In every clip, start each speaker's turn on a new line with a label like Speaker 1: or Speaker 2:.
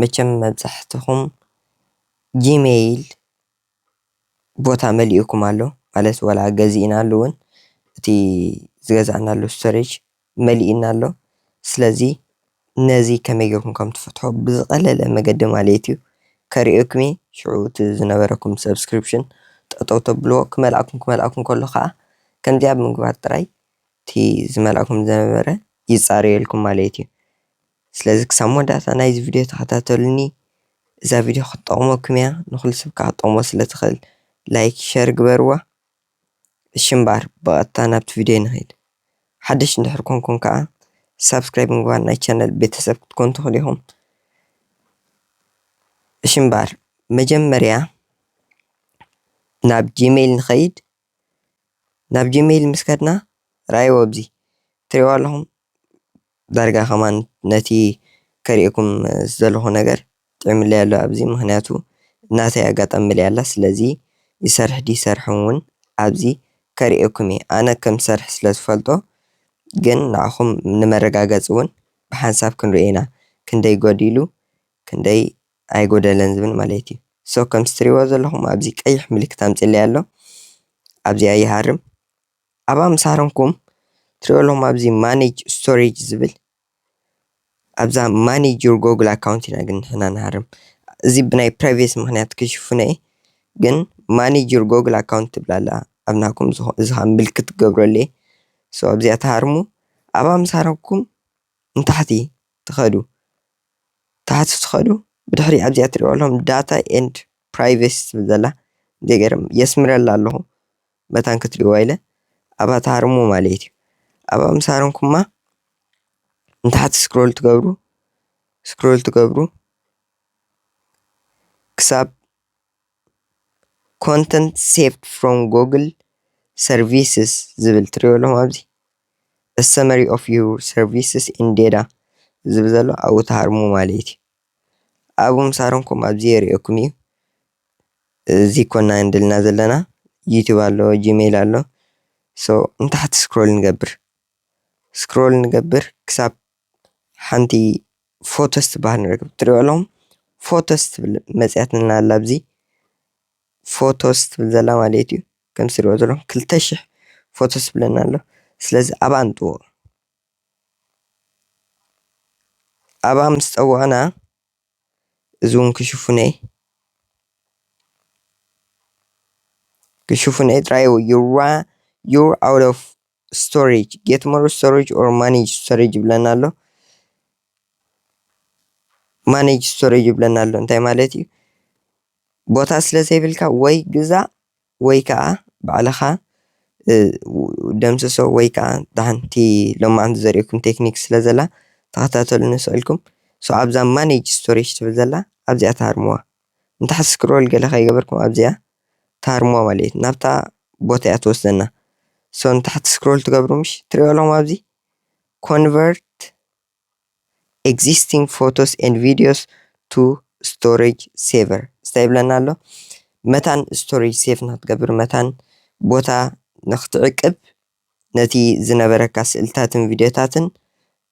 Speaker 1: መቸም መብዛሕትኹም ጂመይል ቦታ መሊኡኩም ኣሎ ማለት ዋላ ገዚእናሉ እውን እቲ ዝገዛእናሉ ስቶሬጅ መሊኡና ኣሎ። ስለዚ ነዚ ከመይ ጌርኩም ከም ትፈትሑ ብዝቐለለ መገዲ ማለት እዩ ከርእየኩም እየ። ሽዑ እቲ ዝነበረኩም ሳብስክሪፕሽን ጠጠው ተብልዎ ክመልኣኩም ክመልኣኩም ከሎ ከዓ ከምዚኣ ብምግባር ጥራይ እቲ ዝመልኣኩም ዝነበረ ይፃረየልኩም ማለት እዩ። ስለዚ ክሳብ መወዳእታ ናይዚ ቪድዮ ተኸታተሉኒ እዛ ቪድዮ ክትጠቕመኩም እያ ንኹሉ ሰብ ከዓ ክትጠቕሞ ስለ ትኽእል ላይክ ሸር ግበርዋ እሺ እምበኣር ብቐጥታ ናብቲ ቪድዮ ንኺድ ሓደሽ እንድሕር ኮንኩም ከዓ ሳብስክራይብ ብምግባር ናይ ቻነል ቤተሰብ ክትኮኑ ትኽእሉ ኢኹም እሺ እምበኣር መጀመርያ ናብ ጂሜል ንኸይድ ናብ ጂመይል ምስ ከድና ረኣይዎ ኣብዚ ትሪእዎ ኣለኹም ዳርጋ ከማን ነቲ ከርእየኩም ዝደለኹ ነገር ጥዒሙለይ ኣሎ ኣብዚ ምኽንያቱ ናተይ ኣጋጣሚ መሊኣ ኣላ ስለዚ ይሰርሕ ድዩ ኣይሰርሕን ውን ኣብዚ ከርእየኩም እየ ኣነ ከም ዝሰርሕ ስለ ዝፈልጦ ግን ንዓኹም ንመረጋገፂ ውን ብሓንሳብ ክንሪኦ ኢና ክንደይ ጎዲሉ ክንደይ ኣይጎደለን ዝብል ማለት እዩ so ከምቲ ትሪእዎ ዘለኹም ኣብዚ ቀይሕ ምልክት ኣምፂኡለይ ኣሎ ኣብዚኣ ይሃርም ኣብኣ ምስ ሃረምኩም ትሪእዎ ኣለኹም ኣብዚ ማኔጅ ስቶሬጅ ዝብል ኣብዛ ማኔጅ ዩር ጎግል ኣካውንት ኢና ግን ንሕና ንሃርም እዚ ብናይ ፕራይቬሲ ምክንያት ክሽፍኖ እየ ግን ማኔጅ ዩር ጎግል ኣካውንት ትብል ኣላ ኣብ ናኩም እዚ ከዓ ምልክት ክገብረሉ እየ so ኣብዚኣ ትሃርሙ ኣብኣ ምስ ሃረምኩም ንታሕቲ ትኸዱ ታሕቲ ትኸዱ ብድሕሪ ኣብዚኣ ትሪእዋ ኣለኹም data and privacy ትብል ዘላ ዘይገርም የስምረላ ኣለኹ መታን ክትሪእዋ ኢለ ኣብኣ ትሃርሙ ማለት እዩ ኣብኣ ምስ ሃረምኩማ ንታሕቲ ስክሮል ትገብሩ ስክሮል ትገብሩ ክሳብ ኮንተንት ሴቭድ ፍሮም ጎግል ሰርቪስስ ዝብል ትሪእዎ ኣለኹም ኣብዚ ሰመሪ ኦፍ ዩር ሰርቪስስ ኢን ዴታ ዝብል ዘሎ ኣብኡ ትሃርሙ ማለት እዩ። ኣብኡ ምስ ሃረምኩም ኣብዚ የርእየኩም እዩ። እዚ ኮና ኢልና ዘለና ዩቱብ ኣሎ ጂሜል ኣሎ ሶ ንታሕቲ ስክሮል ንገብር ስክሮል ንገብር ክሳብ ሓንቲ ፎቶስ ትበሃል ንርክብ ትሪኦ ኣለኹም ፎቶስ ትብል መፅሄትና ኣላ ኣብዚ ፎቶስ ትብል ዘላ ማለት እዩ ከምቲ ትሪእዎ ዘለኹም ክልተ ሽሕ ፎቶስ ዝብለና ኣሎ ስለዚ ኣብኣ ንጥውቖ ኣብኣ ምስ ጠወቕና እዚ እውን ክሽፉነ እዩ ክሽፉነ ጥራይ ዩር ኣውት ኦፍ ስቶሬጅ ጌት ሞር ስቶሬጅ ኦር ማኔጅ ስቶሬጅ ይብለና ኣሎ ማኔጅ ስቶሬጅ ይብለና ኣሎ እንታይ ማለት እዩ ቦታ ስለ ዘይብልካ ወይ ግዛእ ወይ ከዓ ባዕልኻ ደምስሶ ወይ ከዓ ሓንቲ ሎማዓንቲ ዘርእየኩም ቴክኒክ ስለ ዘላ ተኸታተሉኒ ስቕ ኢልኩም ኣብዛ ማኔጅ ስቶሬጅ ትብል ዘላ ኣብዚኣ ትሃርምዋ። ንታሕቲ ስክሮል ገለ ከይገበርኩም ኣብዚኣ ታርሞ ማለት እዩ ናብታ ቦታ እያ ትወስደና ሶ ንታሕቲ ስክሮል ትገብሩ ምሽ ትሪኦ ኣለኹም ኣብዚ ኮንቨርት ኤግዚስቲንግ ፎቶስ ኤንድ ቪዲዮስ ቱ ስቶሬጅ ሴቨር እንታይ ይብለና ኣሎ መታን ስቶሬጅ ሴቭ ንክትገብር መታን ቦታ ንክትዕቅብ ነቲ ዝነበረካ ስእልታትን ቪድዮታትን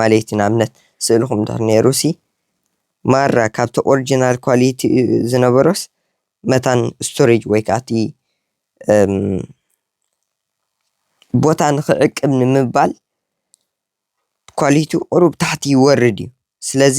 Speaker 1: ማለት'ዩ ንኣብነት ስእልኹም እንድሕር ኔሩ'ሲ ማራ ካብቲ ኦርጅናል ኳሊቲ ዝነበሮስ መታን ስቶሬጅ ወይ ከኣ እቲ ቦታ ንኽዕቅብ ንምባል ኳሊቱ ቁሩብ ታሕቲ ይወርድ'ዩ ስለዚ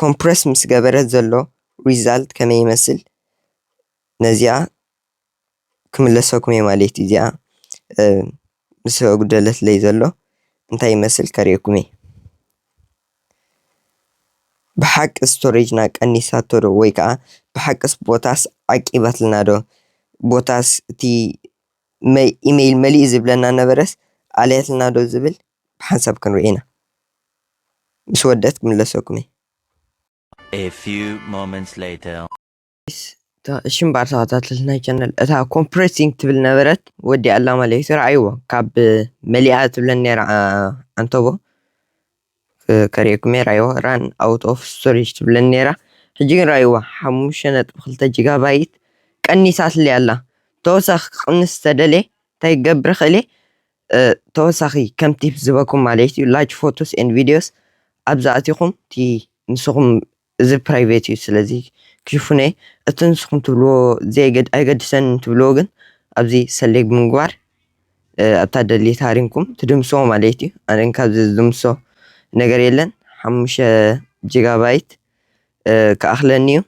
Speaker 1: ኮምፕረስ ምስ ገበረ ዘሎ ሪዛልት ከመይ ይመስል ነዚኣ ክምለሰኩም እየ ማለት እዩ እዚኣ ምስ ኣጉደለትለይ ዘሎ እንታይ ይመስል ከርእየኩም እየ ብሓቂ ስቶሬጅና ቀኒሳቶ ዶ ወይ ከዓ ብሓቂስ ቦታስ ዓቂባትና ዶ ቦታስ እቲ ኢመይል መሊኡ ዝብለና ነበረስ ኣልያትልና ዶ ዝብል ብሓንሳብ ክንሪኦ ኢና ምስ ወደኣት ክምለሰኩም እየ።
Speaker 2: A few moments later. Guys እታ
Speaker 1: እሺ እምበኣር ተኸታተልትና ቻነል እታ ኮምፕረሲንግ ትብል ነበረት ወዲኣ ኣላ ማለት እዩ ረኣይዎ ካብ መሊኣ ትብለን ነይራ ዓንተቦ ከርእየኩም እየ ረኣይዎ ራን ኣውት ኦፍ ስቶሬጅ ትብለን ነይራ ሕጂ ግን ረኣይዋ ሓሙሽተ ነጥቢ ክልተ ጂጋባይት ቀኒሳትለይ ኣላ ተወሳኺ ክቕንስ ተደልየ እንታይ ክገብር እኽእል እየ ተወሳኺ ከም ቲፕ ዝበኩም ማለት እዩ ላጅ ፎቶስ ኤንድ ቪድዮስ ኣብዚ ኣቲኹም እቲ ንስኹም እዚ ፕራይቬት እዩ ስለዚ ክሽፍኖ እየ እቲ ንስኹም ትብልዎ ኣይገድሰን ትብልዎ ግን ኣብዚ ሰሌግ ብምግባር ኣብታ ደሊት ሃሪምኩም ትድምስዎ ማለት እዩ ኣነ ካብዚ ዝድምሶ ነገር የለን ሓሙሸ ጂጋባይት ክኣኽለኒ እዩ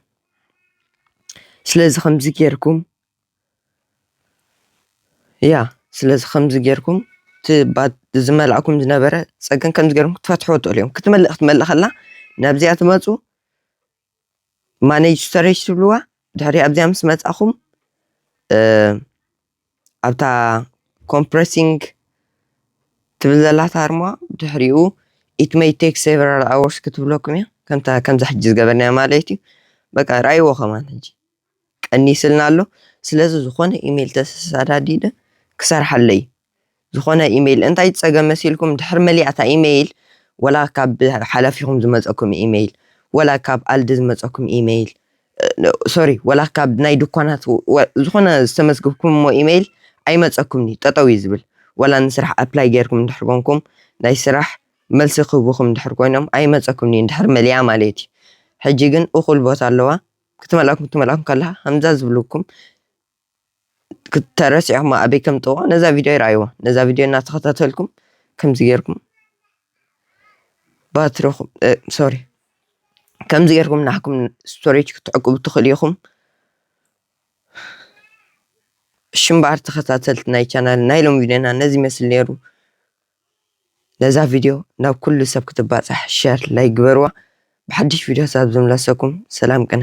Speaker 1: ስለዚ ከምዚ ጌርኩም እያ ስለዚ ከምዚ ጌርኩም ዝመልኣኩም ዝነበረ ፀገም ከምዚ ጌርኩም ክትፈትሕዎ ትኽእሉ እዮም ክትመልእ ክትመልእ ከላ ናብዚኣ ትመፁ ማነጅ ስተሬጅ ትብልዋ ድሕሪ ኣብዚኣ ምስ መፃኹም ኣብታ ኮምፕረሲንግ ትብል ዘላ ታርማ ድሕሪኡ ኢት መይ ቴክ ሴቨራል ኣወርስ ክትብለኩም እያ ከምታ ከምዛ ሕጂ ዝገበርናያ ማለት እዩ በቃ ርኣይዎ ከማን ሕጂ ቀኒስልና ኣሎ ስለዚ ዝኮነ ኢሜል ተሰሳዳዲደ ክሰርሓለይ ዝኮነ ኢሜል እንታይ ጸገም መሲልኩም ድሕሪ መሊኣ እታ ኢሜል ወላ ካብ ሓላፊኩም ዝመጸኩም ኢሜል ወላ ካብ ኣልዲ ዝመጸኩም ኢሜል ሶሪ ወላ ካብ ናይ ድኳናት ዝኮነ ዝተመዝግብኩምሞ ኢሜል ኣይመጸኩምኒ ጠጠው እዩ ዝብል ወላ ንስራሕ ኣፕላይ ጌርኩም እንድሕር ኮንኩም ናይ ስራሕ መልሲ ክህቡኩም እንድሕር ኮይኖም ኣይመጸኩምኒ እንድሕር መሊኣ ማለት እዩ ሕጂ ግን እኩል ቦታ ኣለዋ ክትመልኣኩም ክትመልኣኩም ከላ ከምዛ ዝብልኩም ተረሲዕኩማ ኣበይ ከም ጥዋ ነዛ ቪድዮ ይርኣይዋ ነዛ ቪድዮ እናተኸታተልኩም ከምዚ ጌርኩም ባትሪኹም ሶሪ ከምዚ ጌርኩም ናሕኩም ስቶሬጅ ክትዕቅቡ ትኽእሉ ኢኹም ሽምባር ተኸታተልቲ ናይ ቻናል ናይ ሎም ቪድዮና ነዚ ይመስል ነይሩ ነዛ ቪድዮ ናብ ኩሉ ሰብ ክትባጻሕ ሸር ላይክ ግበርዋ ብሓድሽ ቪድዮታት ኣብ ዝምለሰኩም ሰላም ቅነ።